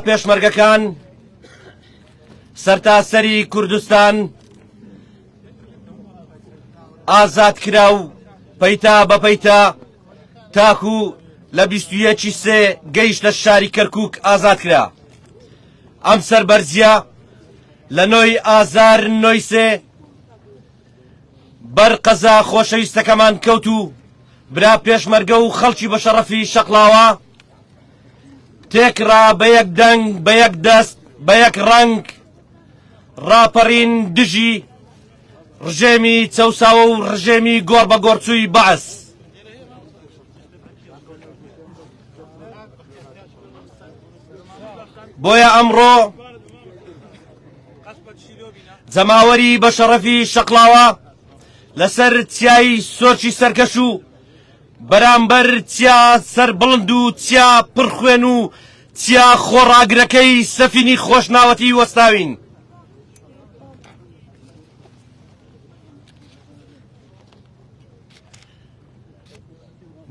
پێشمەرگەکان سەرتاسەری کوردستان ئازاد کرا و پەیتا بە پەیتا تاکو لە بیستویەکی سێ گەیش لە شاری کەرکک ئازاد کرا ئەم سەربەرزیە لە نۆی ئازار نۆی سێ بەر قەزا خۆشەویستەکەمان کەوت و برا پێشمەرگە و خەڵکی بەشەڕەفی شەقلاوە تێکڕا بە یەک دەنگ بە یەک دەست بە یەک ڕەنگ ڕاپەڕین دژی ڕژێمی چەساوە و ڕژێمی گۆڕ بە گۆرچووی بەعس بۆیە ئەمڕۆ جەماوەری بە شەڕەفی شەقلاوە لەسەر چیایی سۆرچی سەرکەش و بەرامبەر چیا سەربڵند و چیا پڕ خوێن و چیا خۆڕاگرەکەی سەفینی خۆشناوەتی وەستاوین.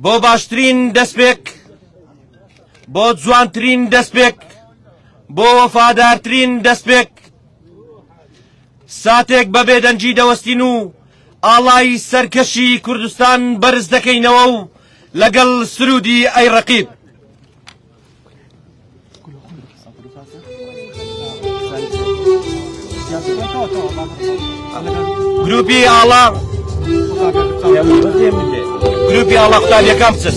بۆ باشترین دەستپێک بۆ جوانترین دەستپێک بۆ وەفادارترین دەستپێک ساتێک بە بێدەنگی دەوەستین و ئاڵای سەرکەشی کوردستان بەرز دەکەینەوە و لەگەڵ سرودی ئەی ڕەقیب گروپی ئاڵا گروپی ئاڵا قوتابیەکان بچن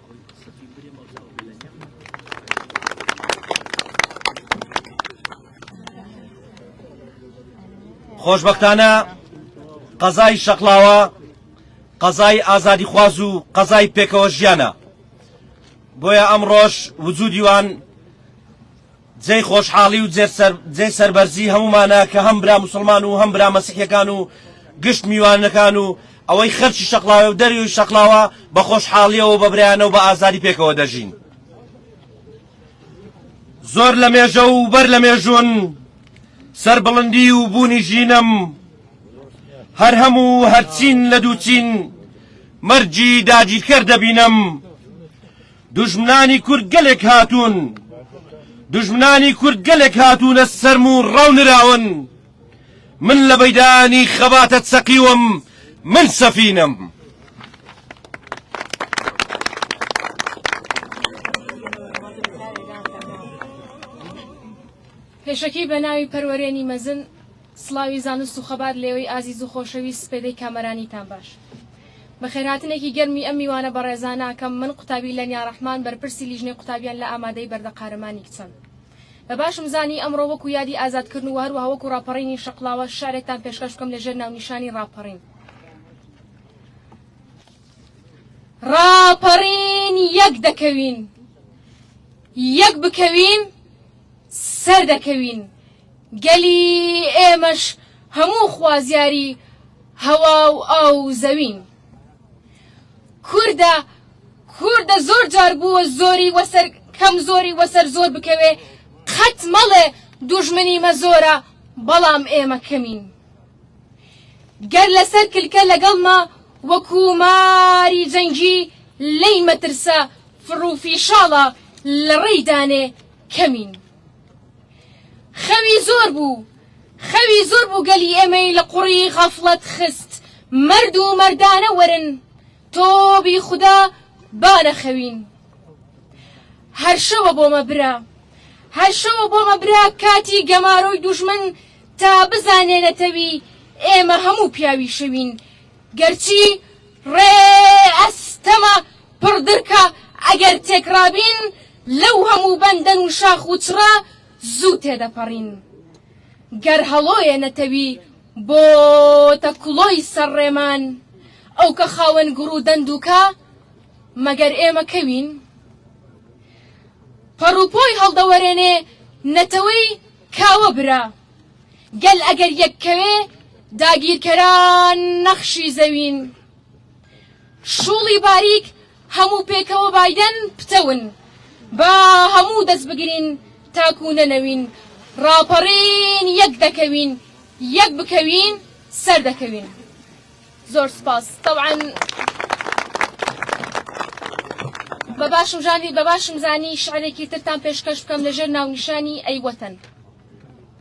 خۆشبەختانە قەزای شەقلاوە قەزای ئازادی خواز و قەزای پێکەوە ژیانە بۆیە ئەم ڕۆژ وجودیوان جێی خۆشحاڵی و جێی سەربەرزی هەموومانە کە هەم برا موسڵمان و هەم برا مەسیحیەکان و گشت میوانەکان و ئەوەی خەرکی شەقڵاوێ و دەریوی شەقڵاوە بە خۆشحاڵیەوە بە برایانە و بە ئازادی پێکەوە دەژین. زۆر لە مێژە و بەر لە مێژوون سەربڵندی و بوونی ژینم هەر هەموو هەرچین لە دووچین مەرجی داگیرکەر دەبینم دوژمنانی کورد گەلێک هاتوون دوژمنانی کورد گەلێک هاتوونە سەرم و ڕەونراون من لە بەیدانی خەباتە چەقیوم من سەفینەم پێشەکی بە ناوی پەروەرێنی مەزن سڵاوی زانست و خەبات لێوەی ئازیز و خۆشەویست سپێدەی کامەرانیتان باش بەخێرهاتنێکی گەرمی ئەم میوانە بەڕێزانە ئەکەم، من قوتابی لەنیا ڕەحمان بەرپرسی لیژنەی قوتابیان لە ئامادەی بەردە قارەمانی کچان. بە باشم زانی ئەمڕۆ وەکو یادی ئازادکردن و هەروەها وەکو ڕاپەڕینی شەقڵاوە شعرێکتان پێشکەش بکەم لە ژێر ناونیشانی ڕاپەڕین. ڕاپەڕین یەک دەکەوین یەک بکەوین سەردەکەوین. گەلی ئێمەش هەموو خوازیاری هەوا و ئاو و زەوین. کوردە کوردە زۆر جار بووە زۆری وەسەر کەم زۆری وەسەر زۆر بکەوێ قەت مەڵێ دوژمنی مە زۆرە بەڵام ئێمە کەمین گەر لەسەر کلکە لەگەڵمە وەکو ماری جەنگی لێی مەترسە فڕوفیشاڵە لەڕێی دانێ کەمین. خەوی زۆر بوو خەوی زۆر بوو گەلی ئێمەی لە قوڕی غەفڵەت خست مەرد و مەردانە وەرن تۆبی خودا با نەخەوین هەر شەوە بۆمە برا هەر شەوە بۆمە برا کاتی گەمارۆی دوژمن تا بزانێ نەتەوی ئێمە هەموو پیاوی شەوین گەرچی ڕێ ئەستەمە پڕدرکە ئەگەر تێکڕابین لەو هەموو بەندەن و شاخ و چڕە زوو تێدەپەڕین. گەر هەڵۆیە نەتەوی بۆتە کڵۆی سەر ڕێمان، ئەو کە خاوەن گوڕ و دەندووکە، مەگەر ئێمە کەوین؟ پەڕوپۆی هەڵدەوەرێنێ نەتەوەی کاوە برا. گەل ئەگەر یەک کەوێ، داگیرکەران نەخشی زەوین. شڵی باریک هەموو پێکەوە بایدەن پتەون با هەموو دەست بگرین تاکو نەنەوین ڕاپەڕین یەک دەکەوین یەک بکەوین سەر دەکەوین زۆر سپاس تەوان بە باشم ژانی بە باشم زانی شعرێکی ترتان پێشکەش بکەم لەژێر ناونیشانی ئەی وەتەن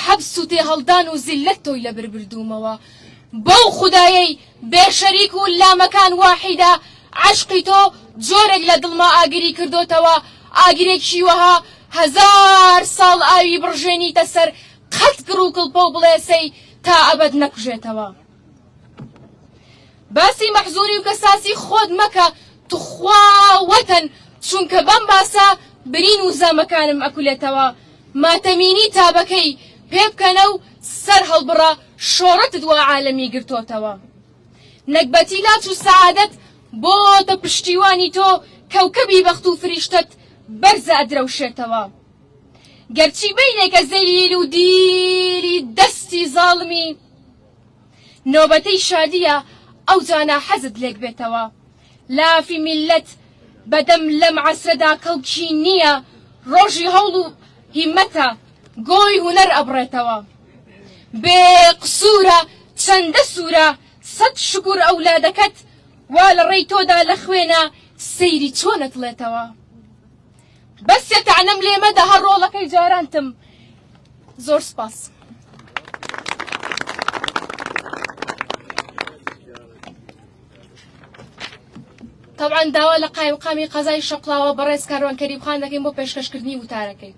حەبس و تێهەڵدان و زیللەت تۆی لەبر بردوومەوە بەو خودایەی بێ شەریک و لامەکان واحیدە عەشقی تۆ جۆرێک لە دڵما ئاگری کردۆتەوە ئاگرێکی وەها هەزار ساڵ ئاوی بڕژێنیتە سەر قەت گڕ و کڵپە و بڵێسەی تا ئەبەد نەکوژێتەوە. باسی مەحزوری و کەساسی خۆت مەکە توخوا وەتەن چونکە بەم باسە برین و زامەکانم ئەکولێتەوە ماتەمینی تابەکەی پێ بکەنە و سەر هەڵبڕە شۆڕتت وا عالەمی گرتۆتەوە نەگبەتی لاچ و سەعادەت بۆتە پشتیوانی تۆ کەوکەبی بەخت و فریشتەت بەرزە ئەدرەوشێتەوە گەرچی بینێکە زەلیل و دیلی دەستی زاڵمی نۆبەتەی شادیە ئەوجانا حەزت لێک بێتەوە لافی میللەت بەدەم لەم عەسرەدا کەڵکی نیە ڕۆژی هەوڵ و هیمەتە گۆی هونەر ئەبڕێتەوە بێ قسورە چەندە سورە سەد شکور ئەولادەکەت وا لەڕێی تۆدا لەخوێنا سەیری چۆن ئەتڵێتەوە. بەس سێ تەعنەم لێ مەدە هەر ڕۆڵەکەی جارانتم زۆر سپاس. تەوان داوا لە قایمقامی قەزای شەقلاوە بەڕێز کاروان کەریمخان دەکەین بۆ پێشکەشکردنی وتارەکەی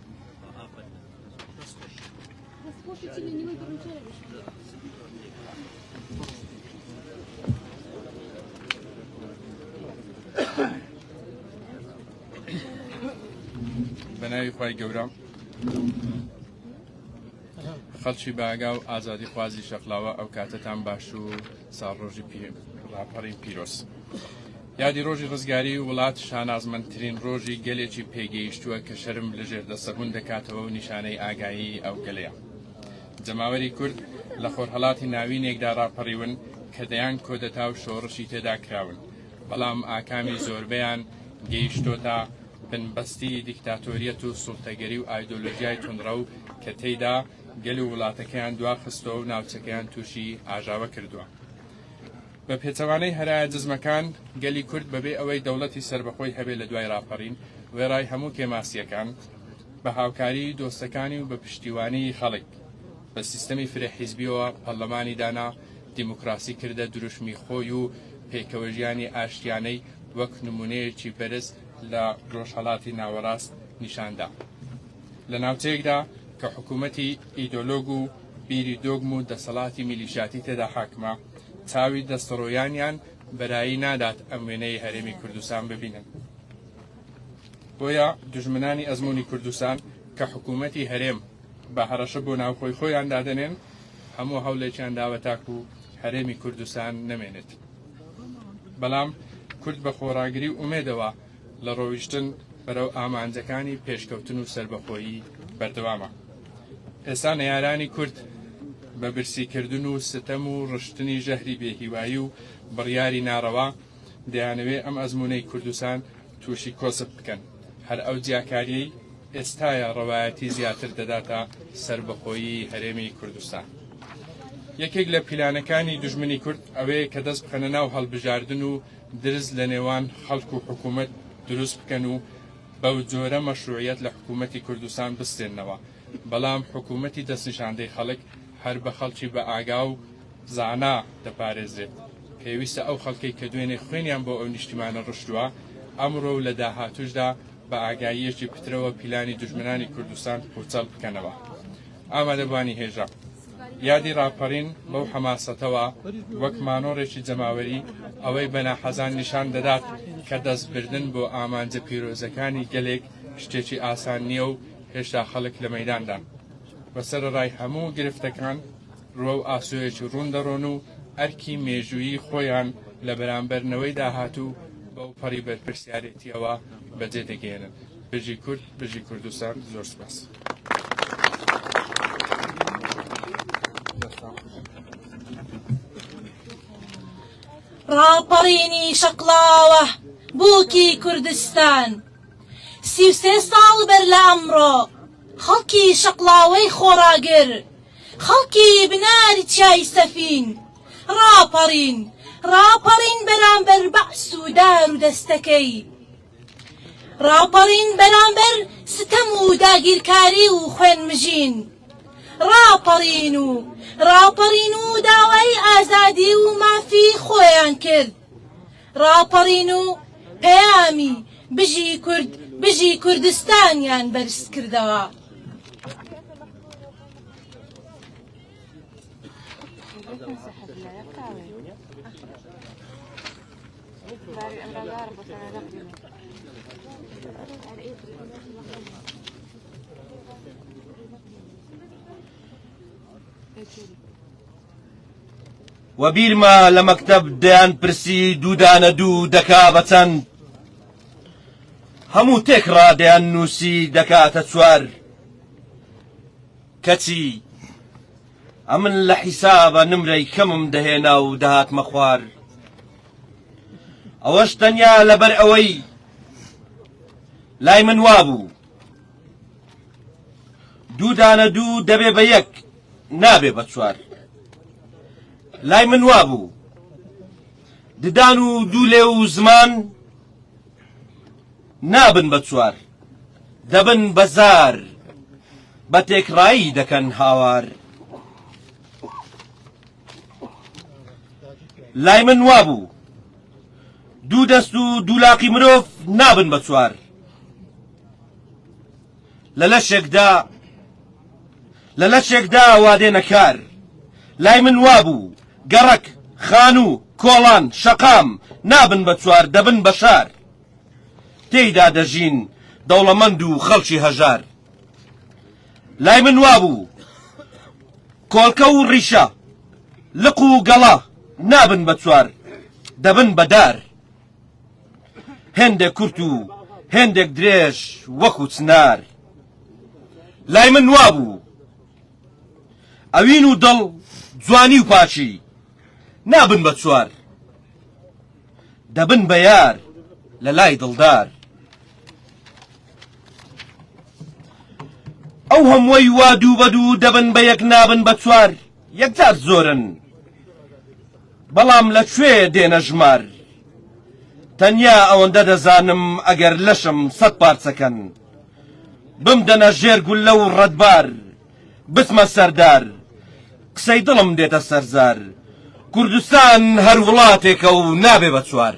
بەناوی خی گەورە خەڵکی باگا و ئازادی خوازی شەقلاوە ئەو کاتتان باش و ساڕۆژی پێ ڕاپەڕی پیرۆست. یادی ڕۆژی ڕزگاری وڵات شانازمەندترین ڕۆژی گەلێکی پێگەیشتووە کە شەرم لە ژێردەستە ڕوون دەکاتەوە و نیشانەی ئاگایی ئەو گەلەیە. جەماوەری کورد لە خۆرهەڵاتی ناوینێکدا ڕاپەڕیون کە دەیان کۆدەتا و شۆڕشی تێدا کراون، بەڵام ئاکامی زۆربەیان گەیشتۆتە بنبەستی دیکتاتۆریەت و سوڵتەگەری و ئایدۆلۆژیای توندڕەو کە تێیدا گەل و وڵاتەکەیان دواخستووە و ناوچەکەیان تووشی ئاژاوە کردووە. بە پێچەوانەی هەرایە دژمەکان، گەلی کورد بەبێ ئەوەی دەوڵەتی سەربەخۆی هەبێ لە دوای ڕاپەڕین، وێڕای هەموو کێماسییەکان، بە هاوکاریی دۆستەکانی و بە پشتیوانیی خەڵک، بە سیستەمی فرە حیزبییەوە پەرلەمانی دانا، دیموکراسی کردە دروشمی خۆی و پێکەوەژیانی ئاشتیانەی وەک نموونەیەکی بەرز لە ڕۆژهەڵاتی ناوەڕاست نیشان دا. لە ناوچەیەکدا کە حکوومەتی ئیدۆلۆگ و بیری دۆگم و دەسەڵاتی میلیشیاتی تێدا حاکمە، چاوی دەستەڕۆیانیان بەرایی نادات ئەم وێنەی هەرێمی کوردستان ببینن بۆیە دژمنانی ئەزمموی کوردستان کە حکوومەتی هەرێم بە هەڕەشە بۆ ناوخۆی خۆیان دادەنێن هەموو هەوڵێکیان داوە تاکو و هەرێمی کوردستان نەمێنێت بەڵام کورد بە خۆڕاگری و ئومێدەوە لە ڕۆیشتن بەرەو ئامانجەکانی پێشکەوتن و سەربەخۆیی بەردەوامە. ئێستا نەیارانی کورد بە برسیکردن و ستەم و ڕشتنی ژەهری بێهیوایی و بڕیاری ناڕەوا دەیانەوێ ئەم ئەزموونەی کوردستان تووشی کۆسپ بکەن. هەر ئەو جیاکارییەی ئێستایە ڕەوایەتی زیاتر دەداتە سەربەخۆیی هەرێمی کوردستان. یەکێک لە پیلانەکانی دوژمنی کورد ئەوەیە کە دەست بخەنە ناو هەڵبژاردن و درز لە نێوان خەڵک و حکوومەت دروست بکەن و بەو جۆرە مەشرووعیەت لە حکوومەتی کوردستان بستێننەوە، بەڵام حکوومەتی دەستنیشاندەی خەڵک هەر بە خەڵکی بە ئاگا و زانا دەپارێزرێت. پێویستە ئەو خەڵکەی کە دوێنێ خوێنیان بۆ ئەو نیشتیمانە ڕشتووە، ئەمڕۆ و لە داهاتووشدا بە ئاگاییەکی پترەوە پیلانی دوژمنانی کوردستان پووچەڵ بکەنەوە. ئامادەبووانی هێژا. یادی ڕاپەڕین بەو حەماسەتەوە وەک مانۆڕێکی جەماوەری ئەوەی بە ناحەزان نیشان دەدات کە دەستبردن بۆ ئامانجە پیرۆزەکانی گەلێک شتێکی ئاسان نییە و هێشتا خەڵک لە مەداندان بە سەرڕای هەموو گرفتەکان ڕوە و ئاسۆیەکی ڕوون دەڕۆن و ئەرکی مێژووی خۆیان لە بەرامبەرنەوەی داهاتوو بەو پەڕی بەرپرسیارێتیەوە بەجێ دەگەێنن. بژی کورد بژی کوردستان زۆر سپاس. ڕاپەڕینی شەقڵاوە بووکی کوردستان سی و سێ ساڵ بەر لە ئەمڕۆ خەڵکی شەقڵاوەی خۆڕاگر خەڵکی بنار چای سەفین ڕاپەڕین ڕاپەڕین بەرامبەر بەعس و دار و دەستەکەی ڕاپەڕین بەرامبەر ستەم و داگیرکاری و خوێنمژین ڕاپەڕین و ڕاپەڕین و داوای ئازادی و مافی خۆیان کرد ڕاپەڕین و پەیامی بژی کورد بژی کوردستانیان بەرز کردەوە و بیرمە لە مەکتب دەیان پرسی دوودانە دوو دەکا بە چەند هەموو تێک ڕادەیان نووسی دەکاتە چوار کەچی ئەمن لە حیسابە نمرەی کەمم دەهێنا و دەهاتمە خوار ئەوەش تەنیا لەبەر ئەوەی لای من وابوو دوو دانە دوو دەبێ بە یەک نابێ بە چوار لای من وابوو ددان و دوو لێ و زمان نابن بە چوار دەبن بە زار. بە تێکڕایی دەکەن هاوار. لای من وابوو دوو دەست و دوولاقی مرۆڤ نابن بە چوار. لە لەشێکدا لە لەشێکدا وادێنە کار. لای من وابوو گەڕەک، خانوو، کۆڵان، شەقام نابن بە چوار دەبن بە شار. تێیدا دەژین دەوڵەمەند و خەڵکی هەژار لای من وابوو کۆڵکە و ڕیشە لق و گەڵا نابن بە چوار دەبن بە دار هێندێک کورت و هێندێک درێژ وەکو چنار لای من وابوو ئەوین و دڵ جوانی و پاچی نابن بە چوار دەبن بە یار لە لای دڵدار ئەو هەمووی وا دوو بە دوو دەبن بە یەک نابن بە چوار یەکجار زۆرن بەڵام لە کوێ دێنە ژمار تەنیا ئەوەندە دەزانم ئەگەر لەشم سەد پارچەکەن بمدەنە ژێر گوللە و ڕەتبار بچمە سەردار قسەی دڵم دێتە سەرزار کوردستان هەر وڵاتێکە و نابێ بە چوار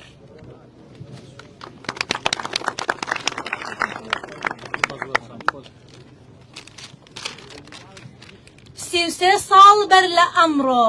سی و سێ ساڵ بەر لە ئەمڕۆ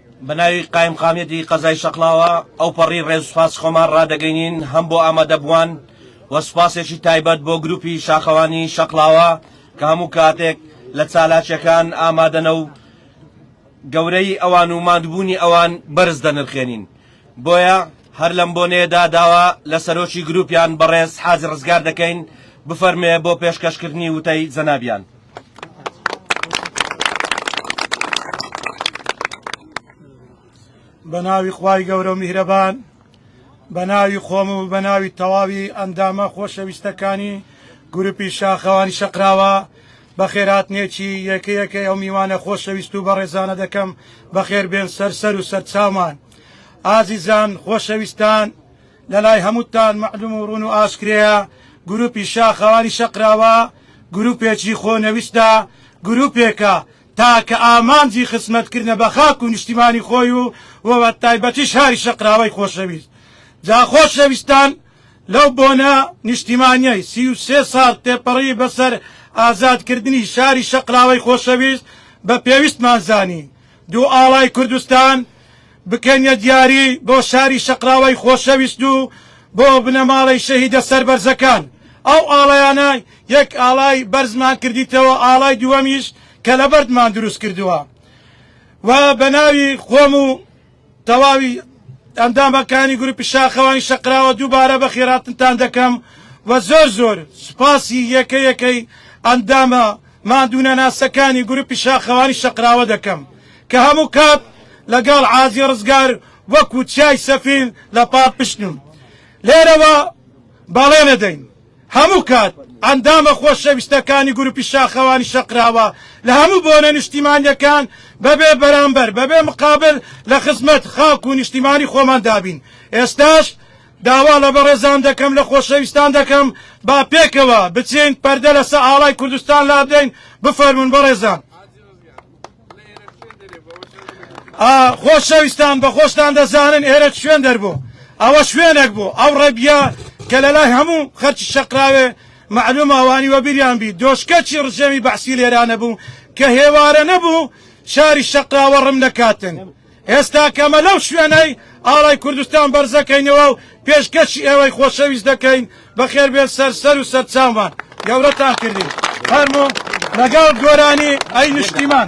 بەناوی قایمقامیەتی قەزای شەقڵاوە ئەوپەڕی ڕێز و سوپاسی خۆمان ڕادەگەینین هەم بۆ ئامادەبووان و سوپاسێکی تایبەت بۆ گروپی شاخەوانی شەقڵاوە کە هەموو کاتێک لە چالاکیەکان ئامادەنە و گەورەیی ئەوان و ماندبوونی ئەوان بەرز دەنرخێنین بۆیە هەر لەم بۆنەیەدا داوا لە سەرۆکی گروپیان بەڕێز حاجی ڕزگار دەکەین بفەرمێ بۆ پێشکەشکردنی وتەی جەنابیان. بە ناوی خوای گەورە و میهرەبان بە ناوی خۆم و بە ناوی تەواوی ئەندامە خۆشەویستەکانی گروپی شاخەوانی شەقراوە بەخێرهاتنێکی یەکە یەکەی ئەو میوانە خۆشەویست و بەڕێزانە دەکەم، بەخێربێن سەر سەر و سەرچاومان. ئازیزان، خۆشەویستان، لە لای هەمووتان مەعلوم و ڕوون و ئاشکرەیە، گرووپی شاخەوانی شەقراوە، گرووپێکی خۆنەویستە، گرووپێکە تاکە ئامانجی خزمەتکردنە بە خاک و نیشتیمانی خۆی و وەتایبەتیش شاری شەقراوەی خۆشەویست. جا خۆشەویستان، لەو بۆنە نیشتیمانیەی سی و سێ ساڵ تێپەڕی بەسەر ئازادکردنی شاری شەقڵاوەی خۆشەویست بە پێویستمان زانی دوو ئاڵای کوردستان بکەینە دیاری بۆ شاری شەقڵاوەی خۆشەویست و بۆ بنەماڵەی شەهیدە سەربەرزەکان ئەو ئاڵایانە یەک ئاڵای بەرزمان کردیتەوە ئاڵای دووەمیش کەلەبەردمان دروستکردوە و بەناوی خۆم و تەواوی ئەندامەکانی گروپی شاخەوانی شەقراوە دووبارە بەخێراتنتان دەکەم و زۆر زۆر سوپاسی یەکە یەکەی ئەندامە ماندوونەناسەکانی گروپی شاخەوانی شەقراوە دەکەم کە هەموو کات لەگەڵ عازی ڕزگار وەکو چیای سەفین لە پاڵپشتن و لێرەوە بەڵێنەدەین هەموو کات ئەندامە خۆشەویستەکانی گروپی شاخەوانی شەقراوە لە هەموو بۆنە نیشتیمانیەکان بەبێ بەرامبەر بەبێ مقابل لە خزمەت خاک و نیشتیمانی خۆمان دابین ئێستاش داوا لە بەڕێزان دەکەم لە خۆشەویستان دەکەم با پێکەوە بچین پەردە لەسە ئاڵای کوردستان لابدەین بفەرمون بەڕێزان. خۆشەویستان بە خۆشتان دەزانن ئێرە شوێن دەربوو ئەوە شوێنێک بوو ئەو ڕێبیا کە لە لای هەموو خەرچی شەقراوێ معلوم ئەوانی وەبیریان بی دۆشکەچی ڕژێمی بەحسی لێرانە بوو کە هێوارە نەبوو شاری شەقراوە ڕم نەکاتن ئێستا کە ئەمە لەو شوێنەی ئاڵای کوردستان بەرزەکەینەوە و پێشکەشی ئێوەی خۆشەویست دەکەین، بەخێربێن سەر سەر و سەرچاومان گەورەتان کردین. فەرموو لەگەڵ گۆرانی ئەی نیشتیمان.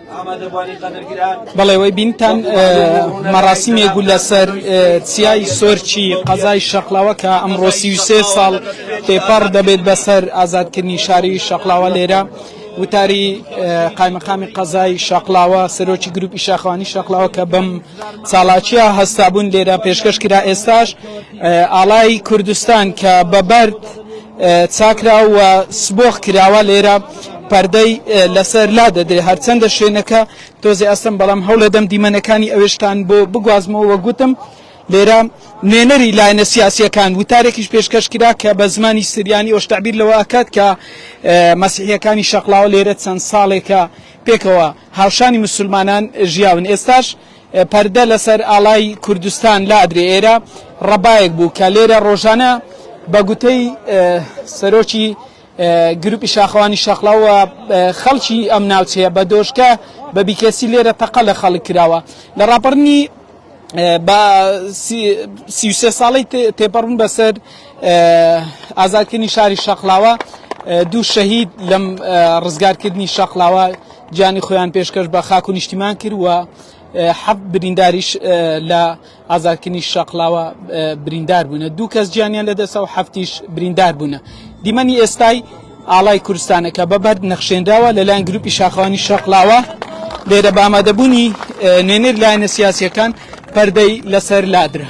بەڵێ وەی بینتان مەڕاسیمێ گول لەسەر چیای سۆرچی قەزای شەقلاوە کە ئەمڕۆ سی و سێ ساڵ تێپەڕ دەبێت بەسەر ئازادکردنی شاری شەقلاوە لێرە وتاری قایمەقامی قەزای شەقلاوە سەرۆکی گروپی شاخوانی شەقلاوە کە بەم ساڵاچیە هەستابوون لێرە پێشکەش کرا ئێستاش ئاڵای کوردستان کە بەبەرد چاکرا و سبۆخ کراوە لێرە پەردەی لەسەر لا دەدرێ هەرچەندە شوێنەکە تۆزێ ئەستم بەڵام هەوڵەدەم دیمەنەکانی ئەوێشتان بۆ بگوازمەوە گوتم لێرە نوێنەری لایەنە سیاسیەکان وتارێکیش پێشکەش کرا کە بە زمانی سریانی ئەوش تعبیر لەوە ئەکات کە مەسیحیەکانی شەقلاوە لێرە چەند ساڵێکە پێکەوە هاوشانی مسلمانان ژیاون ئێستاش پەردە لەسەر ئاڵای کوردستان لادرێ ئێرە ڕەبایەک بوو کە لێرە ڕۆژانە بە گوتەی سەرۆکی گروپی شاخەوانی شاخڵاو و خەڵکی ئەم ناوچەیە بە دۆشکە بە بیکەسی لێرە تەقە لە خەڵک کراوە لە ڕاپەڕنی بە سیوسێ ساڵی تێپەڕون بەسەر ئازادکردنی شاری شەقلاوە دوو شەهید لەم ڕزگارکردنی شەقلاوە گیانی خۆیان پێشکەش بە خاک و نیشتیمان کرد و حەب برینداریش لە ئازادکردنی شەقڵاوە بریندار بوونە دوو کەس گیانیان لەدەسە و هەفتیش بریندار بوونە دیمەنی ئێستای ئاڵای کوردستانە کە بە بەرد نەخشێنراوە لەلایەن گروپی شاخەوانی شەقلاوە لێرە بە ئامادەبوونی نوێنەر لایەنە سیاسیەکان پەردەی لەسەر لادرا.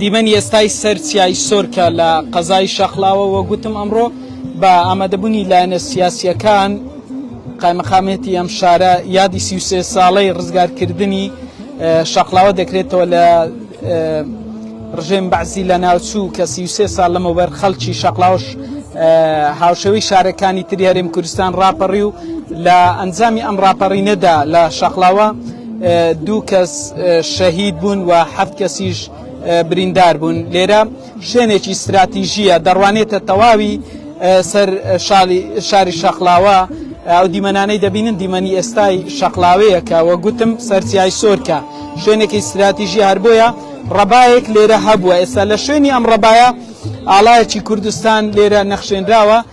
دیمەنی ئێستای سەر چیای سۆرکە لە قەزای شەقلاوە وە گوتم ئەمڕۆ بە ئامادەبوونی لایەنە سیاسیەکان قایمەقامێتی ئەم شارە یادی سی سێ ساڵەی ڕزگارکردنی شەقلاوە دەکرێتەوە لە ڕژێم بەعزی لە ناوچوو کە سی سێ ساڵ لەمەوبەر خەڵکی شەقلاوش هاوشەوی شارەکانی تری هەرێم کوردستان ڕاپەڕی و لە ئەنجامی ئەم ڕاپەڕینەدا لە شەقلاوە دوو کەس شەهید بوون و حەفت کەسیش بریندار بوون لێرە شوێنێکی استراتیژیە دەڕوانێتە تەواوی سەر شاری شەقلاوە ئەو دیمەنانەی دەبینن دیمەنی ئێستای شەقلاوەیەکە وە گوتم سەرسیای سۆرکە شوێنێکی استراتیژی هەر بۆیە ڕەبایەک لێرە هەبووە ئێستا لە شوێنی ئەم ڕەبایە ئاڵایەکی کوردستان لێرە نەخشێنراوە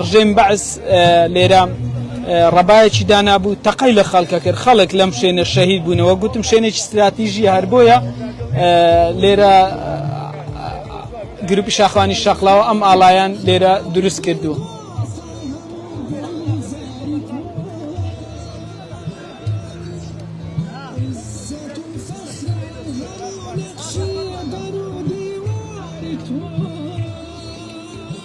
ڕژێم بەعس لێرە ڕەبایەکی دانابوو تەقەی لە خەڵکە کرد خەڵک لەم شوێنە شەهید بوونەوە گوتم شوێنێکی استراتیژی هەر بۆیە لێرە گروپی شاخوانی شەقلاوە ئەم ئاڵایان لێرە دروست کردووە.